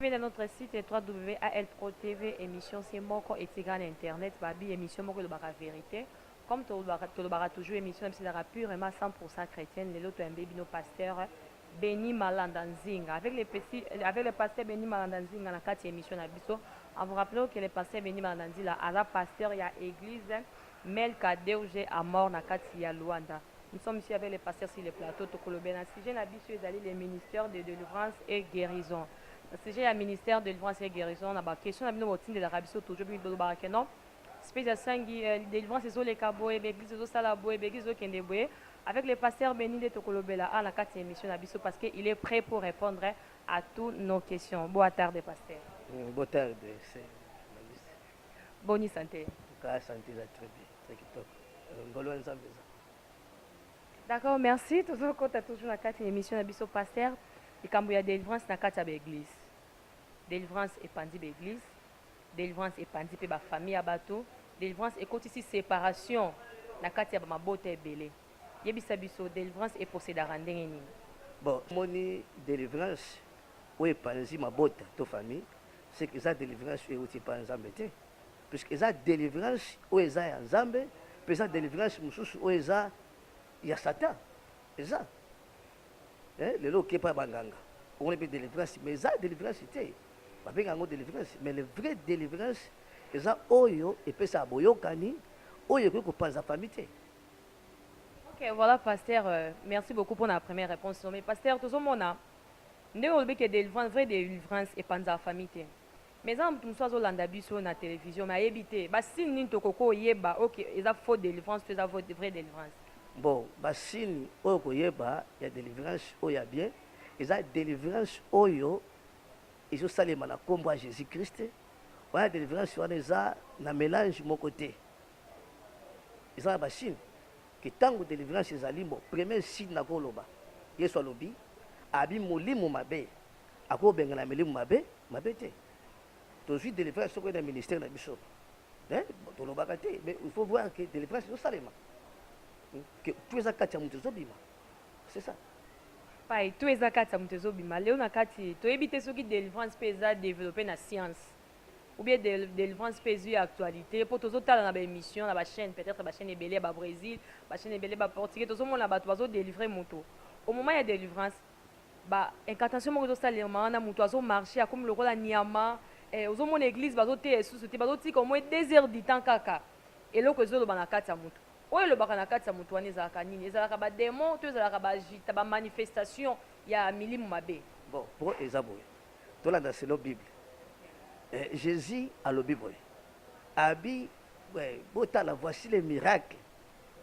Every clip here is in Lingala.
Venez à notre site www.alpro TV émission c'est moko etikala na internet babi émission moko elobaka vérité comme tolobaka tolobaka toujours émission na biso ezalaka purement 100% chrétienne lelo toyambe bino pasteur Beni Malanda Nzinga avec les petits avec le pasteur Beni Malanda Nzinga na kati ya émission na biso en vous rappelant que le pasteur Beni Malanda Nzila aza pasteur ya église Melka deuge a mort na kati ya Luanda. Nous sommes ici avec le pasteur sur le plateau toko lobela na sujet na biso ezali le ministère de delivrance et guerison na sujet ya ministère de delivrance et guerison na ba question na bino bo tindelaka biso toujours bino bolobaka que non space ya sangi euh, delivrance ezo leka boye ba église ezo sala boye ba église ezo kende boye avec le pasteur Beni nde toko lobela a na kati ya émission na biso parce que il est prêt pour répondre à tous nos questions boa tarde pasteur mm, boa tarde Boni sante? Ka sante eza très bien, très kitoko. Euh, ngolo ya Nzambe eza. D'accord, merci. Tozokota toujours na kati ya émission na biso pasteur. Likambo ya délivrance na kati ya ba église. Délivrance epanzi ba église. Délivrance epanzi pe ba famille ya bato. Délivrance ekotisi séparation na kati ya ba mabota ebele. Yebisa biso délivrance e possédaka ndenge nini? Bon, moni délivrance oyo epanzi mabota to famille c'est que eza delivrance oyo euti epai ya nzambe te puisque eza delivrance oyo eza ya nzambe mpe eza delivrance mosusu oyo eza ya satan eza eh, lelo oke epai ya banganga omoni mpe delivrance mais eza delivrance te babenga yango delivrance mais le vrai delivrance eza oyo epesaka boyokani oyo ekoki kopanza fami te Ok, voilà, pasteur, euh, merci beaucoup pour la première réponse. Mais pasteur, tout le monde, Ndenge olobi que delivrance vrai delivrance epanzaka famille te mais eza na mutu mususu azo landa biso na television mais ayebi te ba signe nini toko ko yeba oyo que eza faux delivrance to eza vrai delivrance. Bon ba signe oyo oko yeba ya delivrance oyo ya bien eza delivrance oyo ezo salema na kombo ya Jesus Christ wana delivrance wana eza na melange moko te. Eza na ba signe que tango delivrance ezali mbo premier signe na ko loba yesu alobi abi molimo mabe ako bengana milimo mabe mabe te tozui delivrance soko na ministère na biso eh tolobaka te mais il faut voir que delivrance ezo salema hmm? que tout eza kati ya moto ezo bima c'est ça pai to eza kati ya moto ezobima leo na kati toyebi te soki delivrance mpe eza developpe na science ou bien delivrance pe ezui actualite po tozo tala na ba emission na ba chaine peut etre ba chaine ebele ya ba bresil ba chaine ebele ba portugais tozo mona batu bazo delivre mutu au moment ya delivrance ba incantation moko ezo salema wana mutu azo marche akomi lokola niama eh, ozo mona eglise bazo teya esusu te bazo tika au moins deux heures du temps kaka eloko ezo loba na kati ya mutu oyo elobaka na kati ya mutu wana ezalaka nini ezalaka ba demon to ezalaka ba agita ba manifestation ya milimu mabe bon po eza boye Tolanda selon bible. Eh, Jesus alobi boye. Abi eh, botala voici les miracles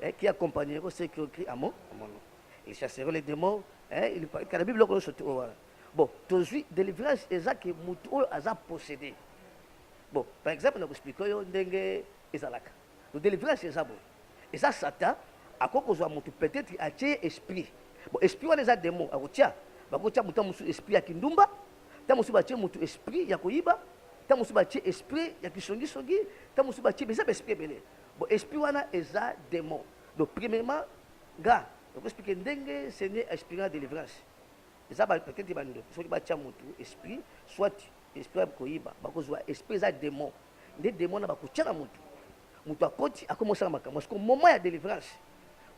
eh, qui accompagneront ceux qui ont cru à mon à mon nom. Ils chasseront les démons. Eh, il kala bible ko sotu owa. Bon, tozui délivrance eza ke mutu oyo aza possédé. Bon, par exemple na ko expliquer yo ndenge ezalaka. Donc delivrance eza boye. Eza Satan akoki kozua mutu peut etre atie ye esprit. Bon esprit wana eza demon akotia. Bakoki kotia mutu tango mosusu esprit ya kindumba, tango mosusu batie mutu esprit ya koyiba, tango mosusu batie esprit ya kisongi songi, tango mosusu batie eza ba esprit ebele. Bon esprit wana eza demon. Donc premierement nga nako explique ndenge Seigneur a explique nga delivrance. Eza ba peut etre ba ndoki soki batia mutu esprit soit esprit ya koyiba bakozua esprit eza demon. nde demo wana bakotia na motu motu akoti akomi osala makambo siko moment ya delivrance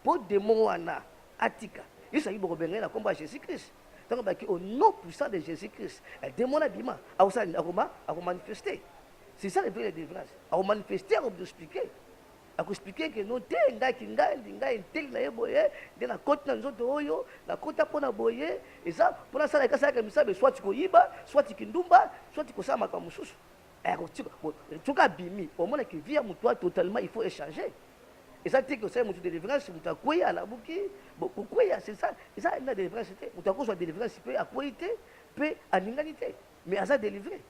mpo demo wana atika yesu ayaki bokobenga ye na nkombo ya jésus christ ntango baki au nom puissant de jésus christ eh, demo wana bima akosala nini akoma akomanifeste c'est ça le vrai la délivrance akomanifeste akoexplike akoexplike ke no te ngai kingandi ngai nteli na ye boye nde nakoti na nzoto oyo nakota mpo na boye eza mpo nasalaka asalaka misabe swati koyiba swati kindumba swati kosala makambo mosusu Eh, soki abimi omona ke vie ya motu wana totalement il faut échanger eza te ke osali motu délivrance motu akwei alamuki kokweya c'est ça eza alinga délivrance te motu akozwa délivrance mpe akwei te mpe alingani te mais aza délivré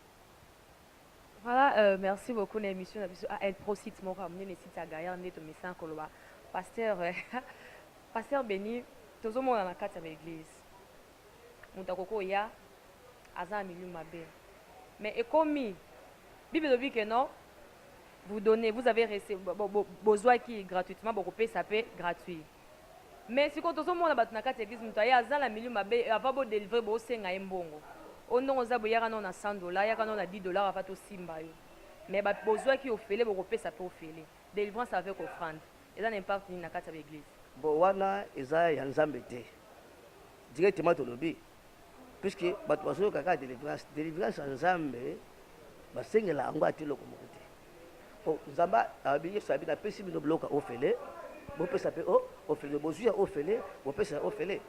voilà euh, merci beaucoup na émission na biso ael ah, prosite moko ya monene site ya gaillard nde tomesana koloba pasteur pasteur béni tozomona na kati ya baeglise mutu akoki koya aza na milieu mabe mais ekomi bible elobi que non vous donnez vous avez rece bozwaki gratuitement bokopesa pe gratuit mais sikoyo tozomona bato na kati ya eglise moto aye aza na milieu mabe ava bodelivre bosenga ye mbongo o ndongo oza boyaka nao na 100 dola yaka nao na 10 dola ava tosimba yo mais bozwaki ofele bokopesa pe ofele delivrance avec offrande Eza na impact nini na kati ya ba eglise? Bon wana eza ya nzambe te directement tolobi puisque bato bazoyoka kaka delivrance delivrance ya nzambe basengela yango ata eloko moko te po oh, nzambe abi yesu abi napesi bino biloko ya ofele bopesa mpe oh, ofele bozwi ya ofele bopesa ya ofele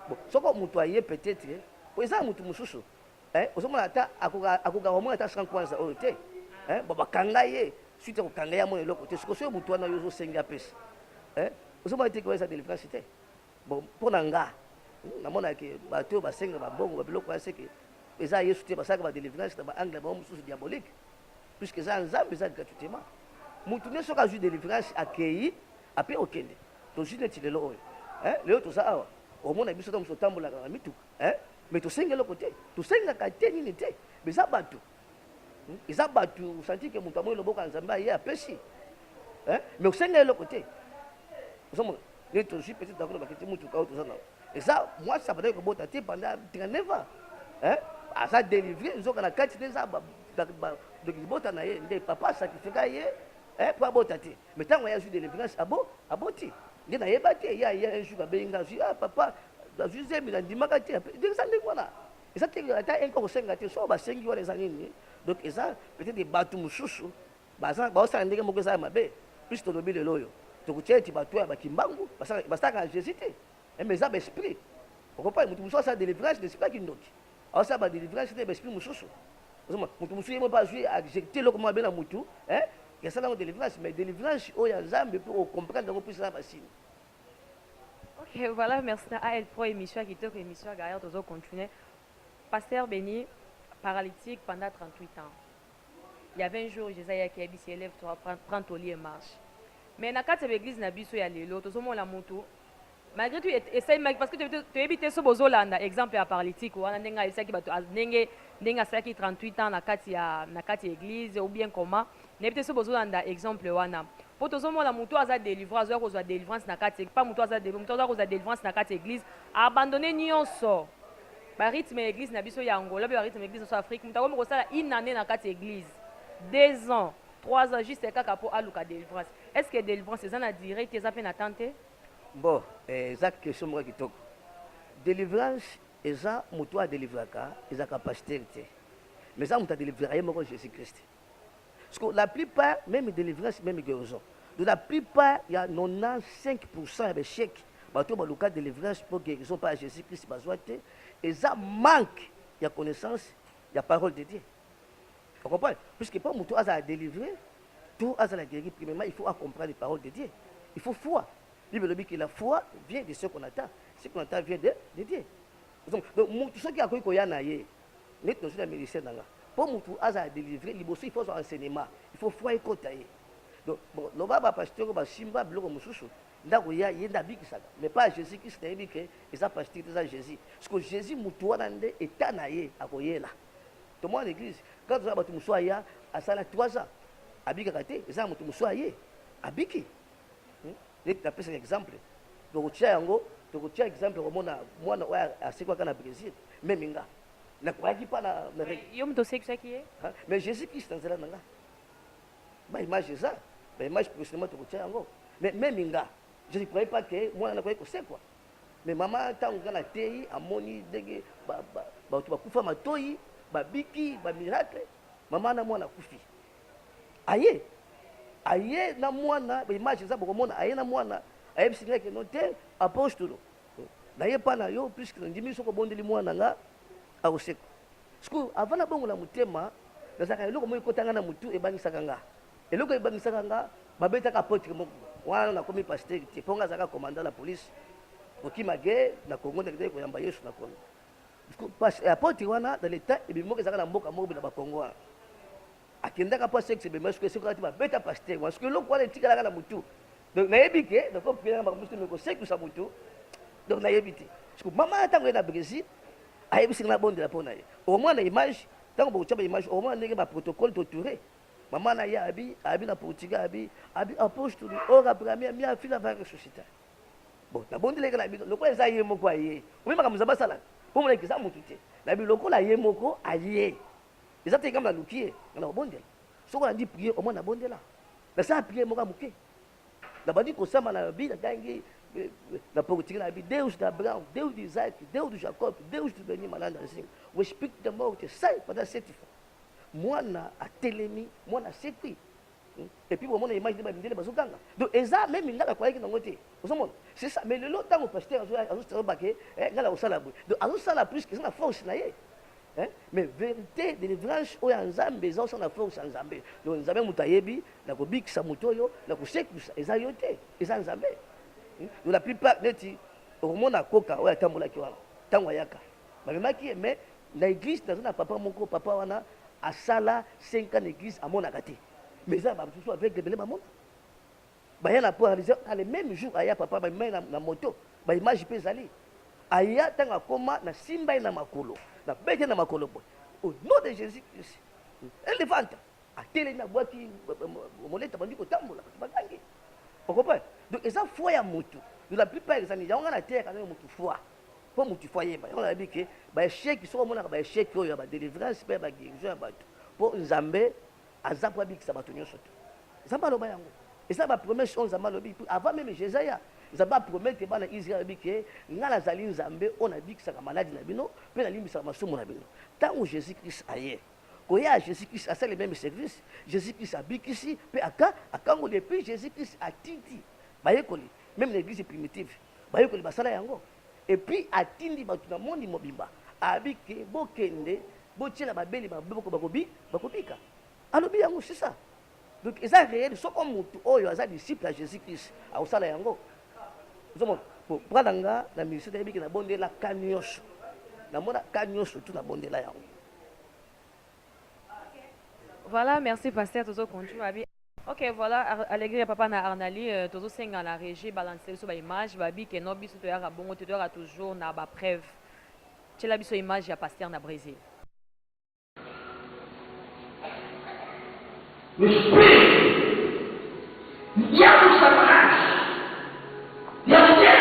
bon soko moto aye peut-être po eza ya moto mosusu Eh ozo mona ata akoka akoka ko mona ata sans kwanza oyo te. Eh ba kanga ye suite ko kanga ya mona eloko te. Sikoyo soyo mutu wana yo ozo sengi apesa. Eh ozo mona te ko eza delivrance te. Bon pona nga na mona ke ba to ba senga ba bongo ba biloko ya seke eza Yesu te ba saka ba delivrance na ba angle ba mususu diabolique. Puisque eza Nzambe eza gratuitement. Mutu ne soka ju delivrance akeyi ape okende. To ju neti lelo oyo. Eh lelo toza awa omona biso to mususu tambola na mituka. Eh mais tosengi eloko te tosengaka te nini te mais eza bato hmm? eza bato osanti ke moto amoni loboko ya nzambe aye apesi eh? mais osengi eloko te ozomona nini tozwi petit dako lobaki ti motuka oyo toza nao eza mwasi abandaki kobota te banda 39 ans eh? aza délivre nzoka na kati nde eza ndoki libota na ye nde papa sacrifika ye eh, mpo abota te Mais tango ye azui delivrance abo aboti ngai nayeba te ye aye un jour abengi ngai azui ah papa azui zemi nandimaka te donc eza ndenge wana eza te ata un koko senga te soki basengi wana eza nini donc eza peut-être bato mosusu baza baosala ndenge moko eza ya mabe plus tolobi lelo oyo tokotia ete bato ya bakimbangu basalaka na Jésus te mais eza ba esprit okopai moto mosusu asala delivrance na esprit ya kindoki Aosala ba delivrance na ba esprit mususu. Ozoma mutu mususu yemo pa azui adjecte loko mwa bena mutu, hein? Ya sala ngo delivrance mais delivrance oyo ya Nzambe pe o comprendre yango puis na ba signe. Ok, voilà, merci na AL Pro émission ya kitoko émission ya Gaillard tozo continuer. Pasteur Beni paralytique pendant 38 ans. Il y avait un jour Jésus ayaki ayebisi ye lève toi prends, prends ton lit et marche. Mais na kati ya ba église na biso ya lelo tozomona mutu malgre tout et ça maki parce que tu yebi te so bozo landa exemple ya paralytique wana ndenge ayebisaki bato ndenge ndenge asalaki 38 ans na kati ya na kati ya église ou bien comment nayebi te so bozo landa exemple wana po tozo mona mutu aza délivrance azoya kozwa délivrance na kati pa mutu aza délivrance mutu azoya kozwa délivrance na kati ya église abandonner nyonso ba rythme ya église na biso ya Angola pe ba rythme ya église na biso Afrique mutu akomi kosala une année na kati ya église deux ans trois ans juste kaka po aluka délivrance est ce que délivrance eza na durée te eza pe na temps te Bon eza question moko kitoko delivrance eza mutu oyo adelivraka ezalaka pasteur te mais eza mutu adelivraka ye moko Jesus Christ siko la plupart meme delivrance meme guerison donc la plupart ya 95% ya ba echec bato oyo baluka delivrance mpo guerison mpo ya Jesus Christ bazwa te eza manque ya connaissance ya parole de Dieu Okompane? Puisque mpo moto azala delivre to azala gueri, premièrement il faut a comprendre les paroles de Dieu. Il faut foi. Bible elobi que la foi vient de ce qu'on attend. Ce qu'on attend vient de, de Dieu. Donc moto soki akoki koya na ye neti nazwi na ministère na nga mpo moto azala delivre liboso il faut azwa enseignement il faut foi ekota ye donc bon loba bapasteur oyo basimba biloko mosusu Ndako ya ye nde abikisaka mais pas Jesus Christ na yebi que eza pasteur te eza Jesus siko Jesus mutu wana nde etat na ye akoyela tomona na eglise kaka toza na batu mosusu aya asala 3 ans abikaka te eza na motu mosusu aye abiki hmm? neti napesaka exemple tokotia yango tokotia exemple komona mwana oyo asekwaka na Brésil meme nga nakwayaki mpa na yo moto osekisaki ye mais Jésus Christ na nzela na nga Ba image eza, ba image prochainement tokotia yango. Mais meme nga, je ne croyais pas que mwana na koki kosekwa. Mais mama tango nga nateyi amoni ndenge ba ba bato bakufa matoyi, babiki, ba miracle, mama na mwana akufi. Aye, aye na mwana, ba image eza bokomona, aye na mwana, ayebisi nga que non te apostolo, naye epa na yo puisque nandimi soki obondeli mwana nga Akosekwa. Sikoyo avant na bongola motema nazalaka eloko moko ekota nga na motu ebangisaka nga. Eloko ebangisaka nga babetaka apotre moko wana na komi pasteur te mpo nga azalaka commandant na police kokima guerre na Congo ndakitaki koyamba Yesu na Congo. Apotre wana dans le temps ebimi moko ezalaka na mboka moko na ba Congo wana. akendaka mpo asekisa bemba soki esoki kati babeta pasteur wana soki eloko wana etikalaka na motu donc nayebi te donc opielaka makambo mosusu me kosekisa motu donc nayebi te siko mama ya ntango ye na brésil ayebisi nga nabondela mpo na ye omwana image ntango bokotya baimage omwana ndenge baprotocole toture mama na ye abi abi na portugal abi abi apostoli ora oh, bramia mia fila va ressuscita bon nabondeleke na bino lokola eza ye moko aye omi makambo nzambe asalaka mpo monaki eza motu te na bilokola ye moko aye Eza te ngambo na luki ye, nga na kobondela. Soki olandi prière, omona na bondela. Na sala prière moko ya moke. Na bandi kosamba na bi na tangi na politique na bi Deus da Abraão, Deus de Isaac, Deus de Jacob, Deus de Beni Malanda Nzinga. O espírito da morte sai pendant sete fois. Mwana atelemi, mwana asekwi. Hmm? Et puis bomona image de ba mindele bazo ganga. Donc eza même ngala kwa yaki nango te. Ozo mona? C'est ça. Mais lelo tango pasteur azo azo tsalo bake, eh ngala osala boye. Donc azo sala plus que ça na force na ye. Hein? Mais vérité, délivrance, oyo ya Nzambe, eza osala na force ya Nzambe. Donc Nzambe moto ayebi, na kobikisa moto oyo, na kosekwisa, eza yo te, eza Nzambe. Hmm? Donc la plupart neti okomona koka oyo atambolaki wana, ntango ayaka bamemaki ye mais Na eglise naza na papa moko papa wana asala 5 ans na eglise amonaka te mais eza na ba mosusu aveugle ebele bamona baya na po réalise a le même jour aya papa bamema ye na, na moto ba image mpe ezali aya ntango akoma nasimba ye na makolo nabete na makolo boye au nom de jésus christ elevanta atelemi abwaki moleta bandi kotambola bato bagangi okopa donc eza foi ya motu de la plupart ezali yango nga nateyaka nayo motu foi po mutu il faut ayeba yango nalobi ke ba echec soki omonaka ba echec oyo ya ba delivrance pe ya ba guérison ya bato po nzambe aza po abikisa bato nyonso te nzambe aloba yango eza ba promesse oyo nzambe alobi avant meme jesaya nzambe apromete bana israel alobi ke ngai nazali nzambe oyo nabikisaka maladi na bino mpe nalimbisaka masumu na bino ntango jésus christ aye koya ya jésus christ asali meme service jésus christ abikisi mpe aka akangoli epuis jésus christ atindi bayekoli meme na église primitive bayekoli basala yango epuis atindi bato na mondi mobimba abi ke bokende botyela babeli maboko bakobi bakobika alobi yango sisa donc eza réel soko motu oyo aza disciple ya jésus christ akosala yango ozomona bra na nga na ministre nayebi ke nabondela ka nyonso namona ka nyonso tu nabondela yango voilà merci pasteur tozo continue abi Ok voilà Alegria papa na Arnali euh, tozo senga na regie balance biso ba image ba bi que non biso toyaka bongo te toyaka toujours na ba preuve. Tiela biso image ya pasteur na Brésil. Le spirit, diabo Satanás, e a mulher,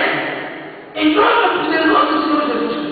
em nome poderoso do Senhor Jesus.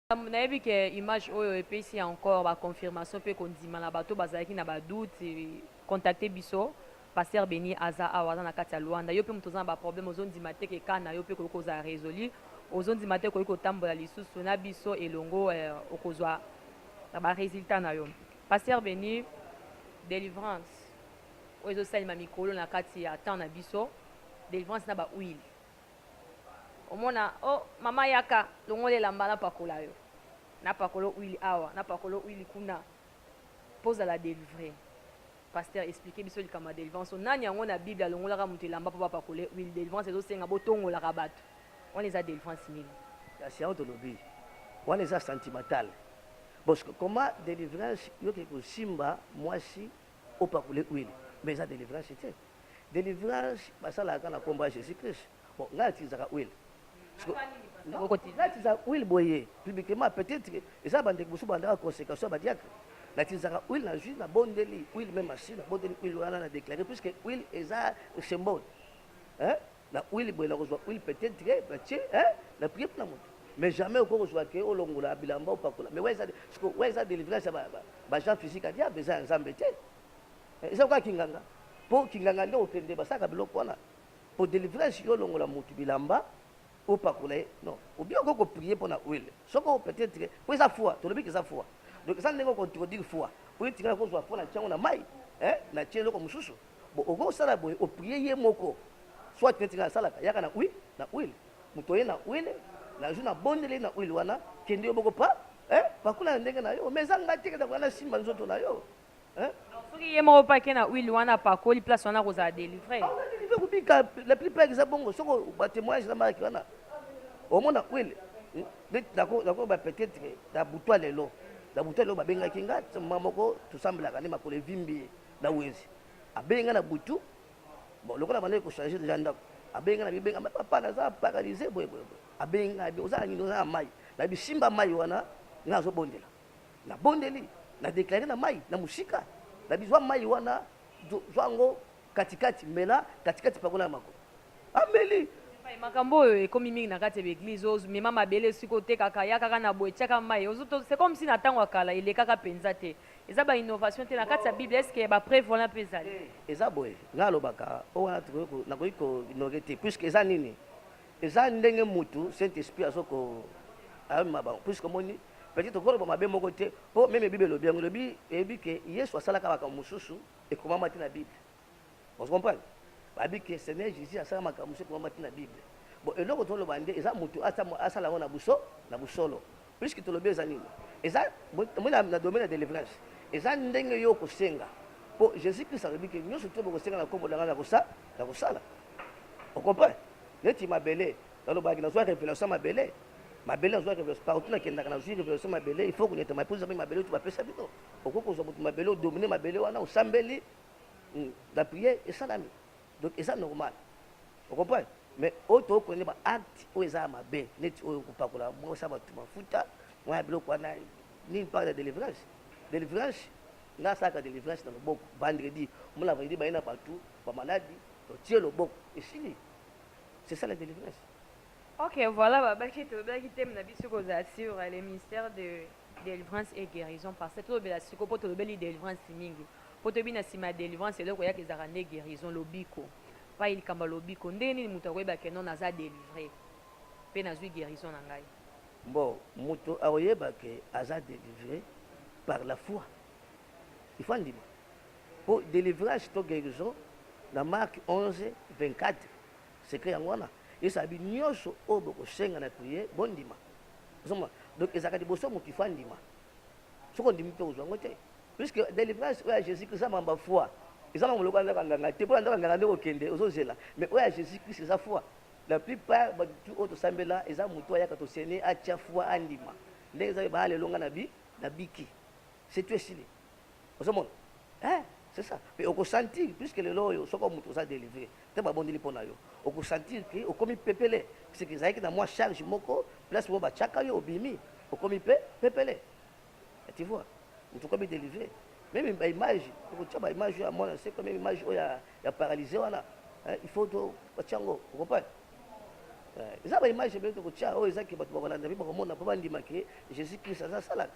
Makambo nayebi ke image oyo epesi encore ba confirmation pe kondima na bato bazalaki na ba doute contacte biso Pasteur Beni aza awa aza na kati ya Luanda yo pe moto oza na ba problème ozo ndima te ke cas na yo pe ekoki kozala resolu ozo ndima te okoki kotambola lisusu na biso elongo okozwa ba resultat na yo Pasteur Beni delivrance oyo ezo salema mikolo na kati ya temps na biso delivrance na ba huile Omona oh mama yaka longola elamba na pakola yo na pakolo huile awa na pakolo huile kuna po zala delivre pasteur explique biso likambo ya delivrance oyo nani yango na bible alongolaka mutu elamba po bapakole huile delivrance ezo senga botongolaka batu wana eza delivrance nini kasi yango tolobi wana eza sentimental bosco comment delivrance yo ke kosimba mwasi Opakola huile mais eza delivrance te. Delivrance basalaka kaka na kombo ya Jesus Christ. Bon, ngai natilisaka huile. Natisa huile boye publiquement peut-être eza ba ndeko mosusu bandaka conséquence ya ba diacre. Natilisaka huile na jus na bondeli huile même assis na bondeli huile wana na déclarer puisque huile eza symbole. Hein? na huile boye nakozwa huile peut-être que batie eh, na prier mpona moto mais jamais okoki kozwa ke olongola bilamba opakola mais wa eza délivrance ya bajean physique ya diable eza ya nzambe te eh, eza kaka kinganga mpo kinganga nde okende basalaka biloko wana mpo délivrance yo olongola motu bilamba opakola ye non obi okoki koprie mpo na huile soko peut-être ke mpo eza foi tolobi ke eza foi donc eza ndenge okontrodire foi oyo etikala kozwa foi na ntiango na mai eh, na tie eloko mosusu Bon okoki kosala boye o prier ye moko soit neti nga nasalaka yaka na huile na huile moto oye na huile na jour na bondeli ye na huile wana kende yo moko pa eh pakola na ndenge na yo mais eza nga te kenda koya nasimba nzoto na yo eh Donc soki ye moko pe ake na huile wana apakoli place wana akozala delivre? akoka delivre kobika la plupart eza bongo soko ba temoignage na marki wana omona huile hmm, neti nako nako ba peut être na butua lelo na butua lelo babengaki nga mama moko tosambelaka nde makolo evimbi ye na wenze abengi nga na butu bon lokola bandaki kochange deja ndako abengi nga na bibenga ma papa naza paralyse boye boye boye abengi nga oza na nini oza na mai na bisimba mai wana nga azobondela nabondeli na deklare na mai na mosika na bizwa mai wana zwa yango katikati mela katikati pakola ya makolo ameli makambo oyo ekomi mingi na kati ya baeglize ozomema mabele esika otekaka yakaka na boye tiaka mai c'est comme si na ntango ya kala elekaka mpenza te Eza ba innovation te na kati ya bible est ce que ya ba preuve wana pe ezali. Eza boye nga alobaka o wana tokoki ko nakoki ko innover te puisque eza nini eza ndenge mutu saint esprit azo ko ayomema bango puisque omoni peut-être tokoki koloba mabe moko te po meme bible elobi yango elobi eyebi ke yesu asalaka makambo mosusu ekomama te na bible Vous comprenez? Babi que Seigneur Jesus asala makambo mosusu ekomama ti na Bible. Bon, eloko toloba nde eza mutu asala yango na buso na busolo. Puisque tolobi eza nini? Eza moi na, na domaine ya delivrance. Eza ndenge yo okosenga. Po Jesus Christ alobi que nyonso to bokosenga na kombo na ngai na kosa na kosala. Vous comprenez? Neti mabele, nalobaki nazwa revelation mabele. Mabele nazwa revelation partout nakendaka nazwi revelation mabele. Il faut kunyata mapuza pe mabele tu bapesa bino. Okoki kozwa mutu mabele odomine mabele wana osambeli La prière esalami donc eza normal o comprendre mais oyo tokoki kolanda ba acte oyo eza ya mabe neti oyo kopakola mwasi ya bato mafuta mwa ya biloko wana nini mpaka na delivrance delivrance nga asalaka delivrance na loboko vendredi omona vendredi baye na bato bamaladi otie loboko esili c'est ça la delivrance Ok, voilà, bah, bah, qui te bah, qui t'aime, n'a bisu cause assure le ministère de délivrance et guérison parce que tout le bela siko pour tout le beli délivrance mingi. Po toyebi na sima ya delivrance eloko eyaka ezalaka nde guerison, lobiko. Epayi likambo ya lobiko ndenge nini mutu akoyeba que non naza delivre pe nazui guerison na ngai? Bon mutu akoyeba que aza delivre par la foi il faut andima po delivrance to guerison na Marc 11, 24 secret yango wana yesu alobi nionso oyo bokosenga na priere bondima ozomona donc ezalaka liboso mutu il faut andima. soki ondimi mpe kozwa yango te puisque délivrance oyo ya jésus christ eza mamba foi eza mamba lokola ndaka nganga te mpona ndaka nganga nde kokende ozozela mais oyo ya jésus christ eza foi la plupart batu oyo tosambela eza motu ayaka tosene atia foi andima ndenge eza oyo baalelonga na bi na biki c'est tout esili ozomona eh, c'est ça pe okosentir puisque lelo oyo soko moto oza délivré te babondeli mpo na yo okosentir ke okomi pepele puisque ezalaki na mwa charge moko place moko batiaka yo obimi okomi pe pepele tu vois moto okomi délivré meme baimage okotia baimage oyo ya mwana seko meme image oyo ya, ya paralyse wana eh, il faut to batia yango okompane eh, eza baimage ebele tokotia oyo ezaki bato bakolanda mpe bakomona mpo bandima ke jésus christ aza asalaka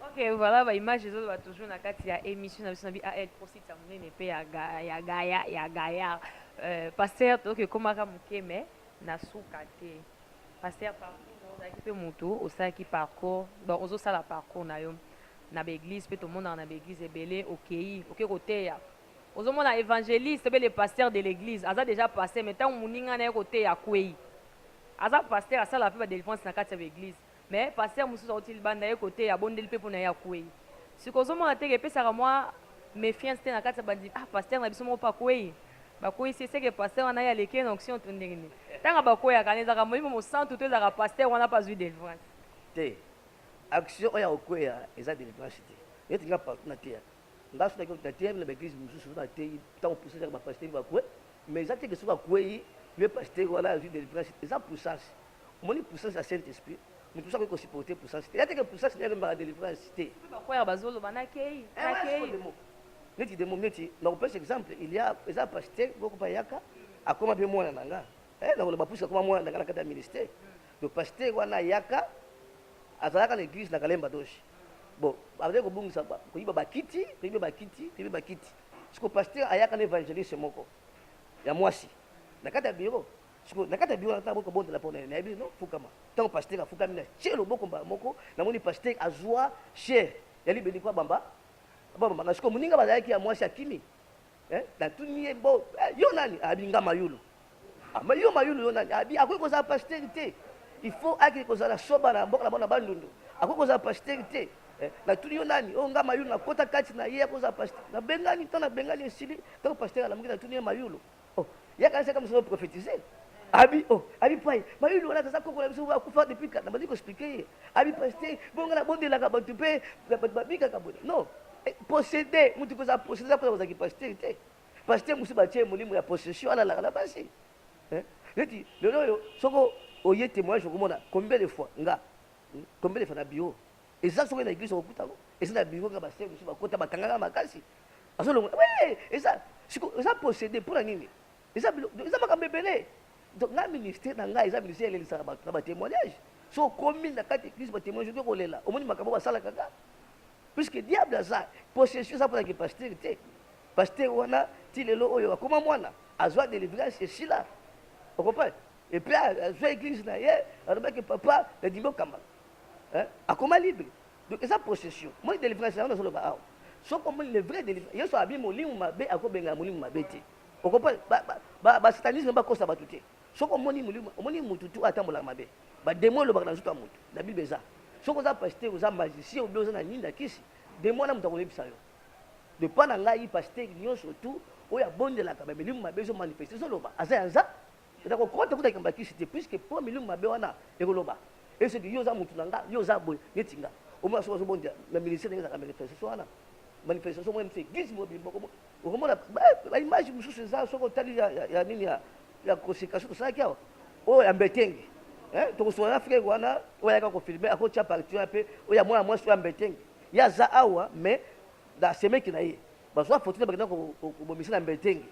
Ok, voilà ba images ezo loba toujours na kati ya émission na biso na BAL Pro site ya munene pe ya ga, ya gaya ya gaya. Euh, pasteur toke komaka muke mais na suka te. Pasteur parcours ozalaki pe mutu osalaki parcours, donc ozo sala parcours na yo na ba église pe tomonaka na ba église ebele okeyi, oke koteya. Ozo mona évangéliste pe le pasteur de l'église aza déjà passé mais tango muninga na ye koteya akweyi. Aza pasteur asala pe ba délivrance na kati ya ba église. Mais pasteur mususu awuti libanda aye koteya abondeli pe pona ye akueyi sikoyo ozomona teke epesaka mwa mefiance te na kati ya bandimi ah pasteur na biso moko pe akueyi bakueyisi ye seke pasteur wana ye aleki ye na onction to ndenge nini tanga bakueyaka wana ezalaka molimo mosantu to ezalaka pasteur wana pe azui delivrance te action oyo ya kokueya eza delivrance te neti nga partout na teya nga soki naki na teya na ba eglise mususu soki na teyi tango puissance yaka ba pasteur bakue mais eza teke soki akueyi ye pasteur wana azui delivrance eza puissance Omoni puissance ya Saint Esprit? Mutu mosusu akoki ko supporter puissance te. Ya te que puissance na ye ememaka delivrance te. Pe ba choir bazo loba na keyi, na keyi. Eh ouais, sikoyo demo. Neti demo, neti na kopesa exemple, il ya eza pasteur moko pe ayaka, akoma pe mwana na nga. Eh na koloba puisque akoma mwana na nga na kati ya ministère. Donc pasteur wana ayaka, azalaka na eglise na Kalemba Doge. Bon, bazali kobungisa, koyiba ba kiti, koyiba ba kiti, koyiba ba kiti. Sikoyo pasteur ayaka na evangeliste moko ya mwasi na kati ya bureau. sikoyo na kati ya biro wana ntango boyi kobondela mpo na ye nayebi no fukama ntango pastere afukami na tie loboko mbala moko namoni pastere azwa chere ya libeli mpo abamba abamba nga sikoyo moninga bazalaki ya mwasi akimi eh, natuni ye bo eh, yo nani abi nga mayulu ama ah, yo mayulu yo nani abi akoki kozala pastere te il faut akende kozala soba na mboka na bango na bandundu akoki kozala pastere te Eh, natuni yo nani oyo oh, nga mayulu nakota kati na ye akozala pasteur nabengani ntango nabengani esili ntango pasteur alamuki natuni ye mayulu Oh, ya kanisa kama sio prophétiser. Abi oh, abi pai. Ba yulu wana kaza koko na biso ba kufa depuis quand. Nabandi ko expliquer ye. Abi pasteur, bonga na bondela ka bantu pe ba ba bika ka bone. Non. Eh, posséder, mutu koza posséder ko za ki pasteur te. Pasteur musu ba tie molimo ya possession ala la na basi. Eh? Neti lelo yo soko oye témoignage okomona combien de fois nga hmm, combien de fois na bureau eza soki na église okokuta ngo eza na bureau nga basere mosusu bakota bakangaka makasi azo longola oui eza siko eza possédé pour la nini eza eza makambo ebele donc na ministère na ngai eza ministère elelisaka bato na batémoignage so okomi na kati eglise batémoignage oto kolela omoni makambo basalaka nga puisque diable aza possession eza mpona ke pasteur te pasteur wana ti lelo oyo akoma mwana azwa délivrance esila okomprendre epuis azwa église na ye alobaki papa nadimi okambaka akoma libre Donc eza procession. Moi délivrance yango nazo loba awa. Soki omoni le vrai délivrance, Yesu abi molimo mabe akobenga molimo mabe te. Okopa ba ba, ba, ba satanisme bakosa bato te. Soki omoni molimo, omoni mutu tu atambolaka mabe. Ba demon elobaka na nzoto ya mutu. Na Bible eza. Soki oza pasteur, oza magicien ou bien oza na nini na kisi, demon wana mutu akoyebisa yo. De pas na ngai pasteur nyonso tu oyo abondelaka ba milimo mabe ezo manifester ezo loba aza ya nza Na ko kota kuta likambo ya kisi te puisque po milimo mabe wana eko loba e soki yo oza mutu na nga yo oza boye neti nga o mona soki azo bonde na ministère ndenge ezalaka manifestation wana manifestation moko mse gis mobimba boko mo oko mona ba image mususu eza soki otali ya ya nini ya ya consécration tosalaki awa oyo ya mbetenge eh toko sola na frère wana oyo ayaka ko filmer ako tia partie wana pe oyo ya mwana mwasi oyo ya mbetenge ye aza awa mais na semeki na ye bazwa foto na bakenda kobomisa na mbetenge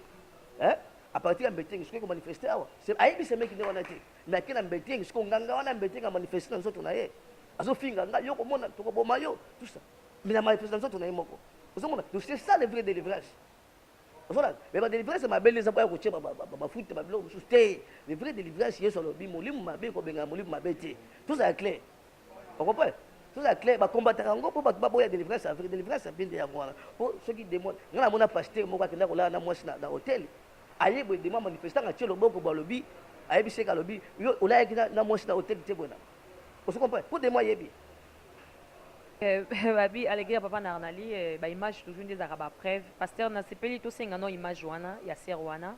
eh A partir ya mbetenge sikoyo ko manifester awa. Se ayebi semeki nde wana te. Mais ake na mbetenge sikoyo nganga wana ya mbetenge a manifester na nzoto na ye. Azo finga nga yo komona toko boma yo tout ça. Mais na manifester na nzoto na ye moko. Ozo mona donc c'est ça le vrai delivrance. Ozo mona mais ba delivrance mabe nde eza boya ko tie ba ba ba futa ba biloko mosusu te. Le vrai delivrance Yesu alobi molimo mabe ko bengana molimo mabe te. Tozala clair. Vous comprenez Tout ça clair, ba combataka ngo po bato baboya délivrance ya vrai, délivrance ya bien de yango wana. Po soki demon, nga na mona pasteur moko akenda kolala na mwasi na, na hotel. Aye boye demon manifestant nga tie loboko bo alobi, ayebi seka alobi, yo olayaki na, na mwasi na hotel tie boye na. Vous comprenez Po demon ayebi. Eh, babi aleki ya papa na arnali eh, ba image toujours nde ezalaka ba preuve pasteur nasepeli tosenga no image wana ya sere wana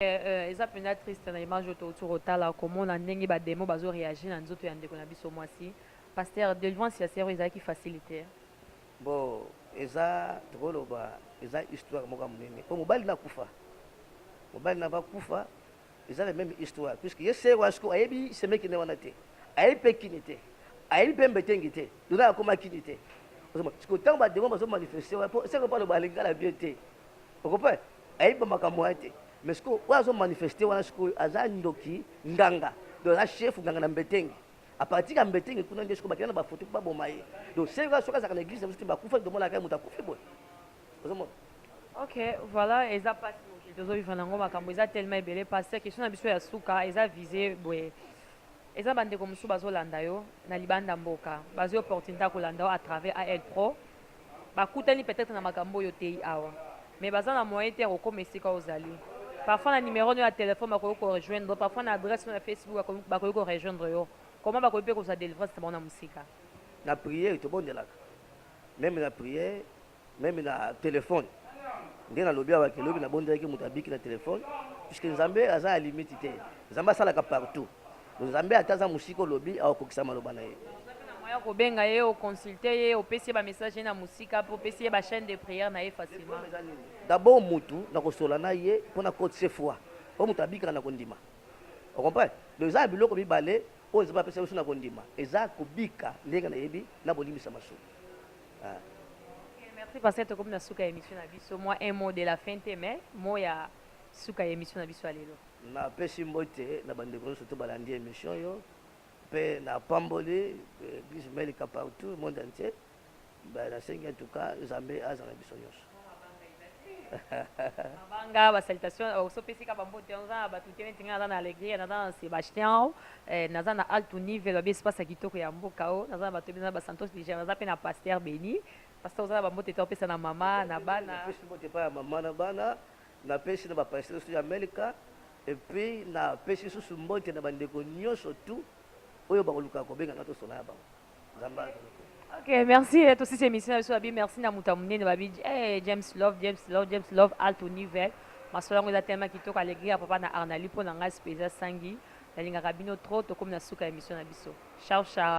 Eh eh eza mpenza triste na image oyo touti kotala komona ndenge ba demon bazo reagir na nzoto ya ndeko na biso mwasi pasteur delivrance ya sœur oyo ezalaki facile te hein. Bon eza tokoloba eza histoire moko ya monene mpo mobali na kufa mobali na bakufa eza la même histoire puisque ye sœur wana sikoyo ayebi semeki na ye wana te ayebi mpe kini te ayebi mpe mbetengi te dona akoma kini te Ozomona? sikoyo ntango bademo bazomanifeste wana mpo seko mpo aloba alingi kala bien te okope ayebi ba makambo wana te mais sikoyo oyo azo manifeste wana sikoyo aza ndoki nganga donc aza chef nganga na mbetenge apartir ya mbetenge kuna nde sikoyo bakenda na bafoto mpo baboma ye donc seka soki azalaka na eglise na biso te bakufa tomonaka ye moto akufi boye ozomona ok voilà eza mpasi mokili tozovivre nango makambo eza telema ebele mpasi question na biso ya suka eza vise boye eza bandeko mosusu bazolanda yo na libanda mboka bazwi opportunité ya kolanda yo à travers al pro ba kutani peut etre na makambo oyo oteyi awa mais baza na moyen te ya ko koma esika ozali parfois na numero no ya telephone bakoki ko rejoindre yo parfois na adresse no ya Facebook ba koki ko rejoindre yo comment ba koki pe kozua delivrance na bango na musika? Na prière tobondelaka meme na prière meme na telephone nde na lobi awa ke lobi na bondelaki mutu abiki na telephone puisque nzambe aza ya limite te nzambe asalaka partout Nzambe ata aza mosika olobi akokokisa maloba na ye. Moyen kobenga ye o consulter ye opesi ye ba message na mosika pe opesi ye ba chaine de prière na ye facilement. D'abord mutu na kosola na ye pona cote ce foi po mutu abikaka na kondima o comprendre donc eza na biloko mibale oyo Nzambe apesa biso na kondima eza kobika ndenge na yebi na bolimbisa masumu ah. Okay, merci pasteur tokomi na suka ya emission na biso mwa un mot de la fin te mais mot ya suka ya emission na biso ya lelo. Na pesi mbote na ba ndeko nionso to ba landi emission oyo pe na pamboli eglise melika partout monde entier ba na sengi en tout cas nzambe azala na biso nionso. Mabanga ba salutation euh, oso pesi ka ba mbote yango za ba tute neti nga za na alegria na za na Sebastian eh, na za na alto niveau ba espace ya kitoko ya mboka o na za na bato bina ba santos niger na za pe na pasteur beni pasteur oza na ba mbote to pesa na mama na bana pesi mbote pa ya mama na bana Na pesi na ba pasteurs tout ya Melka et puis na pesi lisusu mbote na ba ndeko nioso tout oyo ba kolukaka ko benga nga to solola na bango. Nzambe a zala na bino. Ok merci to sisi emission na biso ba bi merci na moto ya monene ba bi eh James Love James Love James Love alt univel masolo yango eza tellement kitoko alegri ya papa na Arnali mpo na ngai sipe eza sangi na lingaka bino trop to komi na suka ya emission na biso ciao ciao